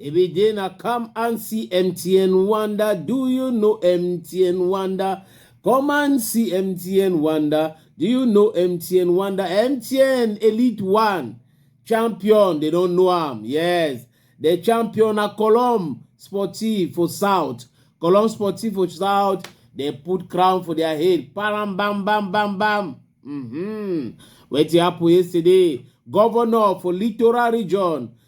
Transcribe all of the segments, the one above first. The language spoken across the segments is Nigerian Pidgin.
Every day na come and see MTN Wonder. Do you know MTN Wonder? Come and see MTN Wonder. Do you know MTN Wonder? MTN Elite One champion. They don't know am. Yes, the champion na Colom Sportif for South. Colom Sportif for South. They put crown for their head. Param bam bam bam bam. Mm-hmm. Wetin happen yesterday? Governor for Littoral Region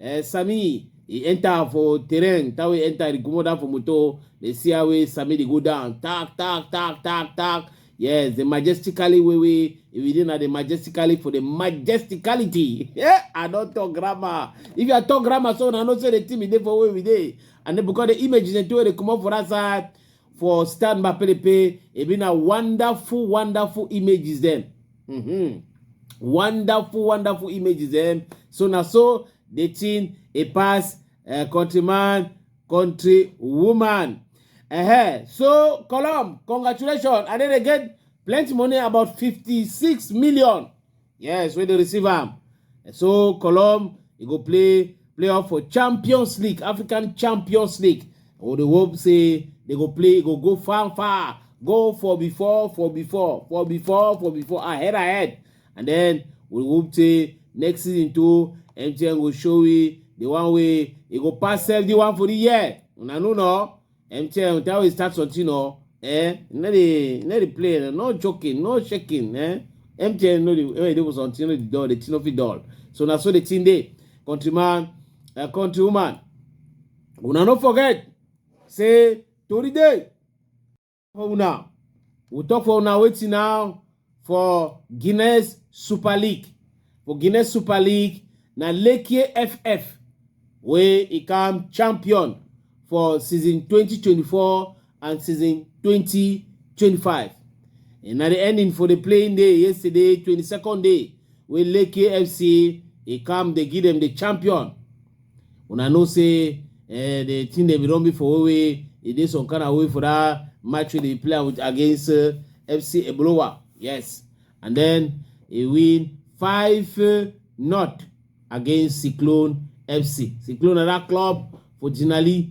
eh, Sami he enter for terrain that way enter the comot down for motor dey see how way Sami dey go down tak tak tak tak tak yes the majestically way way if you dey na the majestically for the majesticality yeah I don talk grammar if you are talk grammar so una know say the thing be dey for where we dey and then because the image is the thing wey dey comot for that side for stand by pelepe e be na wonderful wonderful images dem mm -hmm. wonderful wonderful images dem so na so the thing e pass uh, countryman country woman uh -huh. so column congratulations and then again plenty money about 56 million Yes, wey dey receive am. So Cologne e go play playoff for Champions League, African Champions League. We dey hope say they go play, e go go far far, go for before, for before, for before, for before, ahead ahead. And then we hope say next season too, MTN go show we the one way e go pass 71 for the year. Una know no? MTN, that way start something or eh, no dey no dey play, no joking, no shaking, eh. MTN no dey when you dey for something, no dey dull, the thing no fit dull. So na so the thing dey, countryman, uh, countrywoman. Una no forget, say tori dey for una. We talk for una wetin now. for Guinness Super League. For Guinness Super League, na Lekie FF wey e come champion for season 2024 and season 2025. And na the ending for the playing day yesterday, 22nd day, wey Lekie FC e come dey give dem the champion. una know say uh, the thing they be run before way e dey some kind of way for that match wey dey play with against uh, fc ebolowa yes and then he win five uh, not against cyclone fc cyclone na that club for jinali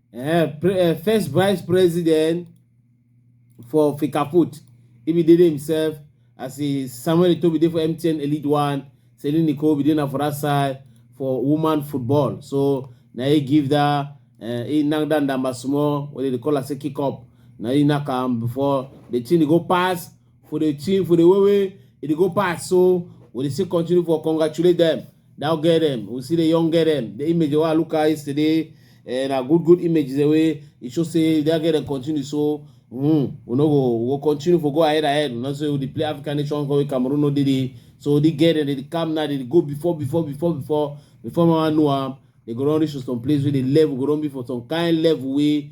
Eh, pre, eh, first vice president for Fecafoot. He be did himself as a Samuel Eto'o be there for MTN Elite One, Celine Nicole be there for that side for woman football. So now he give that uh, he knock down that small what they call us a kick up. Now he knock am before the thing go pass for the team, for the way way it e go pass. So we still continue for congratulate them. Now get them. We see the young get them. The image I look at yesterday and eh, a good good image is the way it should say they get them continue. So mm, we no go we we'll continue for go ahead ahead. We not say we play African nation go Cameroon no did it. So they get them, they come now, they go before, before, before, before, before my know them. They go run reach to some place where the level go run be for some kind level way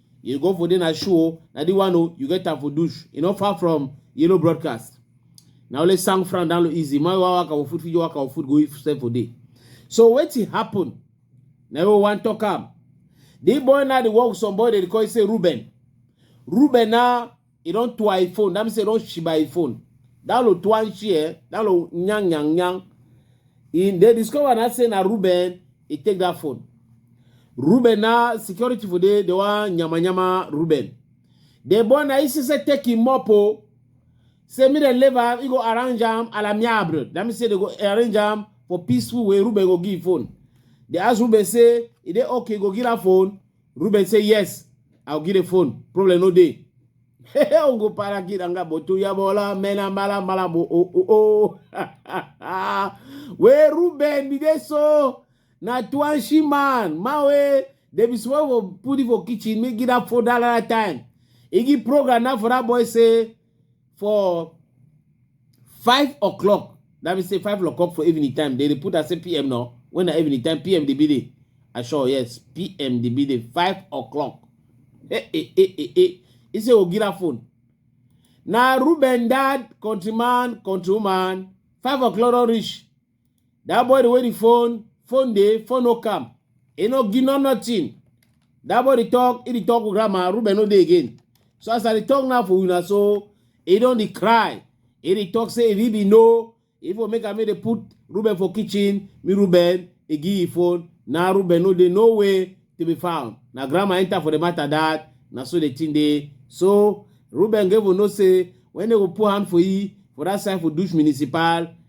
you go for there na show o na the one o you get am for douche e no far from yellow broadcast na only sang fran down low easy my wa waka for food fit waka for food go if sell for there so wetin happen na we wan talk am the boy na dey work with some boy dey call say ruben ruben na e don to i phone that means e don shiba i phone that lo to and share that lo nyang nyang nyang e dey discover na say na ruben e take that phone ruben na security for dey dey wan nyama nyama ruben the boy na he see say take him up o say me dem leave am he go arrange am à l'amiable that means say they go arrange am for peaceful way ruben go give phone they ask ruben say e dey okay go give am phone Ruben say yes, I'll give the phone. Problem no day. Ongo para kiranga botu ya bola mena mala mala bo oh oh oh. We Ruben be there so na twanshi man mawe they be swear for put it for kitchen make it up for that time. Igi program now for that boy say for five o'clock that means say five o'clock for evening time they dey put as say pm now when na evening time pm dey be dey i sure yes pm dey be dey five o'clock eh eh eh eh eh he say ogira phone na ruben dad countryman countrywoman five o'clock don reach That boy the way the phone, phone dey, phone no come. He no give no nothing. That boy dey talk, he dey talk with grandma, Ruben no dey again. So as I dey talk now for una so, he don dey cry. He dey talk say if he be no, if for make am make dey put Ruben for kitchen, me Ruben, he give him phone. Now Ruben no dey no way to be found. Na grandma enter for the matter that, na so the thing dey. So Ruben go even know say when they go put hand for he for that side for Dush Municipal,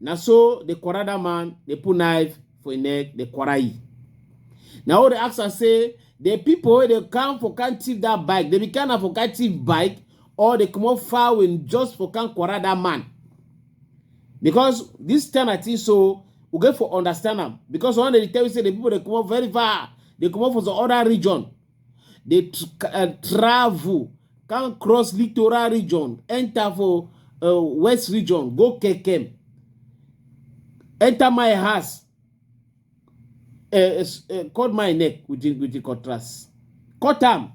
na so dey quarrel that man dey put knife for im neck dey quarrel e na all dey ask am say the people wey dey come for can thief that bike dey be kind of for can thief bike or dey comot foul in just for can quarrel that man because this time i think so we get for understand am because one dey tell you say the people dey comot very far dey comot for some other region dey eh, travel come cross littoral region enter for eh, west region go kekem enter my house uh, uh, cut my neck with the, with the cutlass, cut them,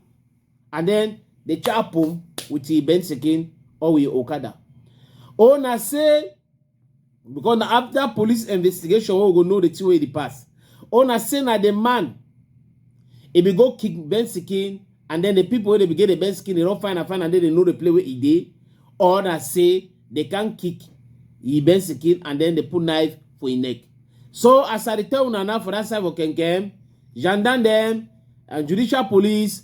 and then they chop them with the benzikin or with Okada. Ona say because na after police investigation wey we go know the thing wey dey pass una say na the man e be go kick Ben Sikin and then the people wey dey be get the Ben Sikin dey don find am find am then they know the place wey e dey or na say they can kick e Ben Sikin and then they put knife for e neck so as I dey tell una now for that side for Kenkem gendarme dem and judicial police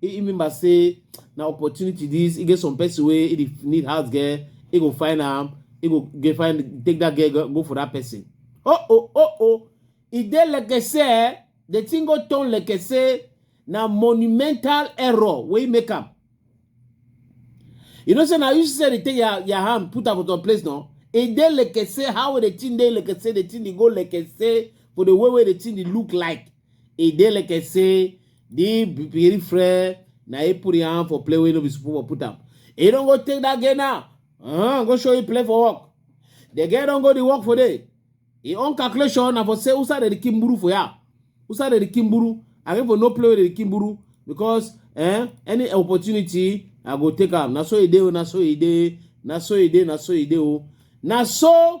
e remember say na opportunity this e get some person wey e dey need house girl e go find am e go get find take that girl go, go for that person oh oh oh oh e dey like say the thing go turn like say na monumental error wey make am you know say na you say dey take your your hand put am for some place no e dey like say how the thing dey like say the thing dey go like say for the way wey the thing dey look like e dey like say the big friend na he put him hand for play wey no be suppose for put am he don go take that girl now uh, go show you play for work the girl don go the work for there him own calculation na for say usa dey kill mburu for ya usa dey kill mburu i go for no play wey dey kill mburu because eh, any opportunity i go take am na so e dey o na so e dey na so e dey na so e dey o na so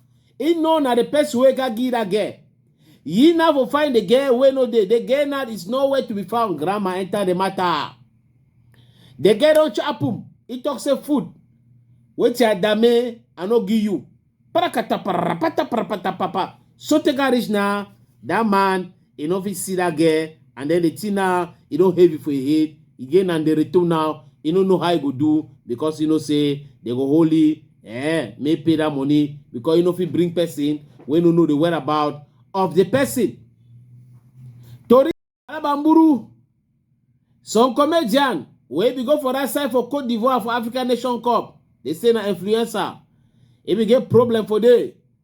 He know na the person wey got give that girl. He now for find the girl wey no dey. The girl now is nowhere to be found. Grandma enter the matter. The girl don chop him. He talk say food. Wetin I dame, I no give you. Parakata parapata parapata papa. So take a reach now. That man e no fit see that girl and then the thing now e don heavy for im head e get na the return now e no know how e go do because e know say they go hold e eh make pay that money because e no fit bring person wey no know the whereabout of the person tori alabamburu some comedian wey be go for that side for cote d'ivoire for african nation cup dey say na influencer e bin get problem for there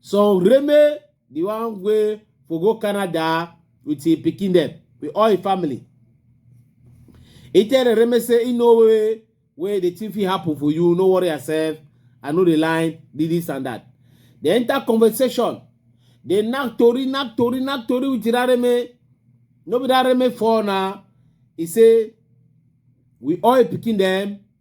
some reme the one wey for go canada with him pikin dem with all him family he tell the reme say he no way wey the thing fit happen for you no worry yourself i know the line did this and that they enter conversation they knack tori knack tori knack tori with that reme no be that reme fall na he say we all him pikin dem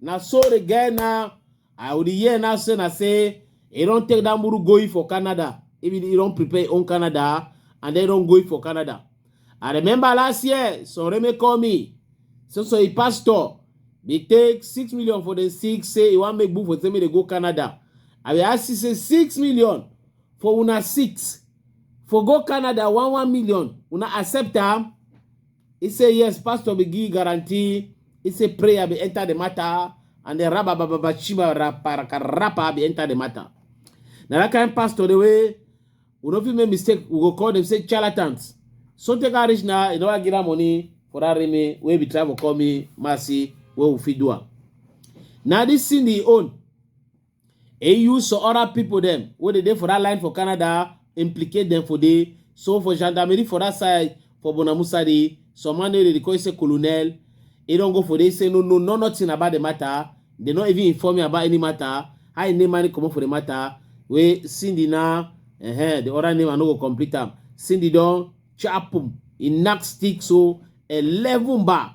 na so the guy now i would hear now say na say he don take that muru going for canada if he don prepare his own canada and then don going for canada i remember last year soreme call me so so he pastor dey take six million for the six say he wan make book for say make they go canada i bin ask you say six million for una six for go canada one one million una accept am He say yes, pastor be give guarantee. He say prayer be enter the matter, and the rabba baba baba shiba rapper rapper be enter the matter. Now that kind of pastor the way we don't fit make mistake, we go call them say charlatans. So take a rich now, you know I give her money for that remain where we travel call me mercy where we fit do am. Now this thing he own. e use some other people dem wey dey dey for that line for canada implicate dem for there so for gendarmerie for that side for bonamusa there some man wey dey call say colonel e don go for there say no no no nothing about the matter they no even inform me about any matter how e name money comot for the matter wey cindy na uh-huh, the other name i no go complete am cindy don chapum e knack stick so eleven bar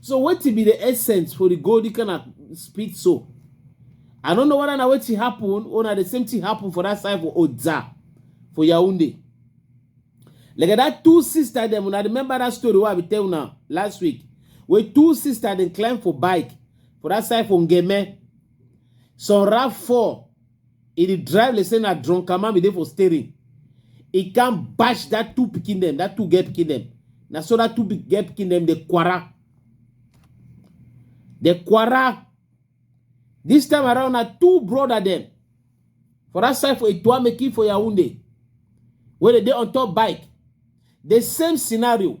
so wetin be the essence for the gold kind of speed so i don't know whether na wetin happen or na the same thing happen for that side for oza for yaounde like that two sister dem una remember that story wey i be tell una last week wey two sister dem climb for bike for that side for ngeme some rav fall He dey drive like say na drunkaman be dey for steering. He can bash that two pikin them, that two girl pikin them. Na so that two big girl pikin them dey kwara. Dey kwara. This time around na two brother them for that side for Ituameki for Yaoundé wey dey dey on top bike. The same scenario.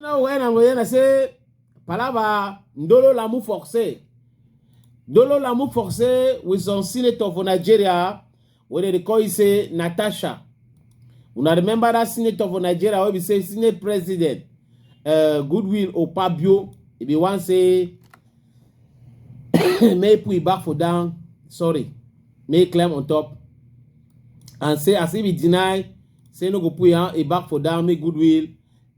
Now when I'm going to say, Palava, Ndolo Lamu Forcé. Ndolo Lamu Forcé with some senator for Nigeria, where they call you say Natasha. Una remember that senator for Nigeria wey be say Senate President uh, Goodwill Opabio e be wan say make we back for down sorry make climb on top and say as if he deny say no go put him back for down make Goodwill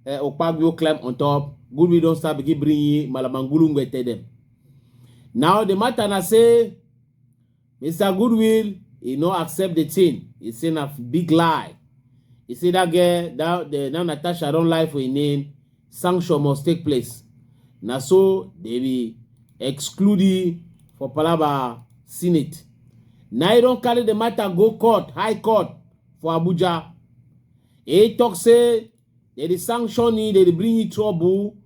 Uh, eh, Okpagio climb on top. Good we don't start begin bring ye Malamangulu tell them. Now the matter na say Mr. Goodwill, he no accept the thing. He say a big lie. He say that girl, that the now Natasha don't lie for his name. Sanction must take place. Na so they be excluding for Palaba Senate. Now he don't carry the matter go court, high court for Abuja. He talk say they dey sanction you, they dey bring you trouble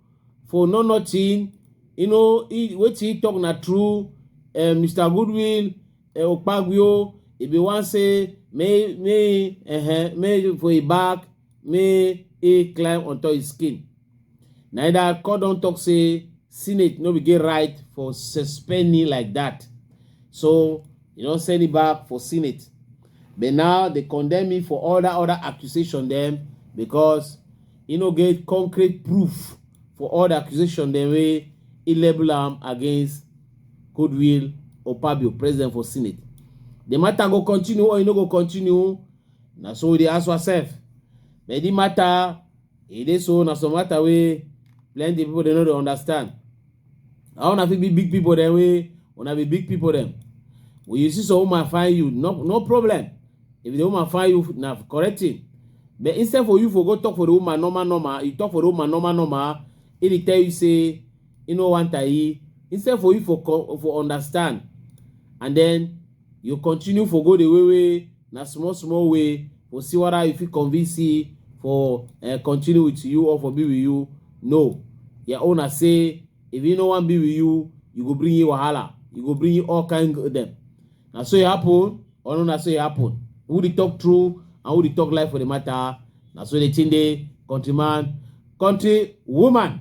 for no nothing. You know, he, what he talk na true. Uh, Mr. Goodwill, uh, Okpagio, he be one say, may, may, uh, may for a back, may he climb on top his skin. Na that court don talk say Senate no be get right for suspending like that. So you don't send it back for Senate. But now they condemn me for all that other accusation them because you know get concrete proof for all the accusation them way he label them against Goodwill or Pabio, president for Senate. The matter go continue or you know go continue. Now so they ask yourself. But the matter e dey so na some matter wey plenty people dey no dey understand how una fit be big people dem wey una be big people dem when you see some woman find you no no problem if the woman find you na correct thing but instead for you for go talk for the woman normal normal you talk for the woman normal normal e dey tell you say e no want her e instead for you for co- for understand and then you continue for go the way wey na small small way for see whether you fit convince see for uh, continue with you or for be with you no your owner say if you no wan be with you you go bring you wahala you go bring you all kind of them na so e happen or no na so e happen who dey talk true and who dey talk lie for the matter na so the thing dey countryman country woman.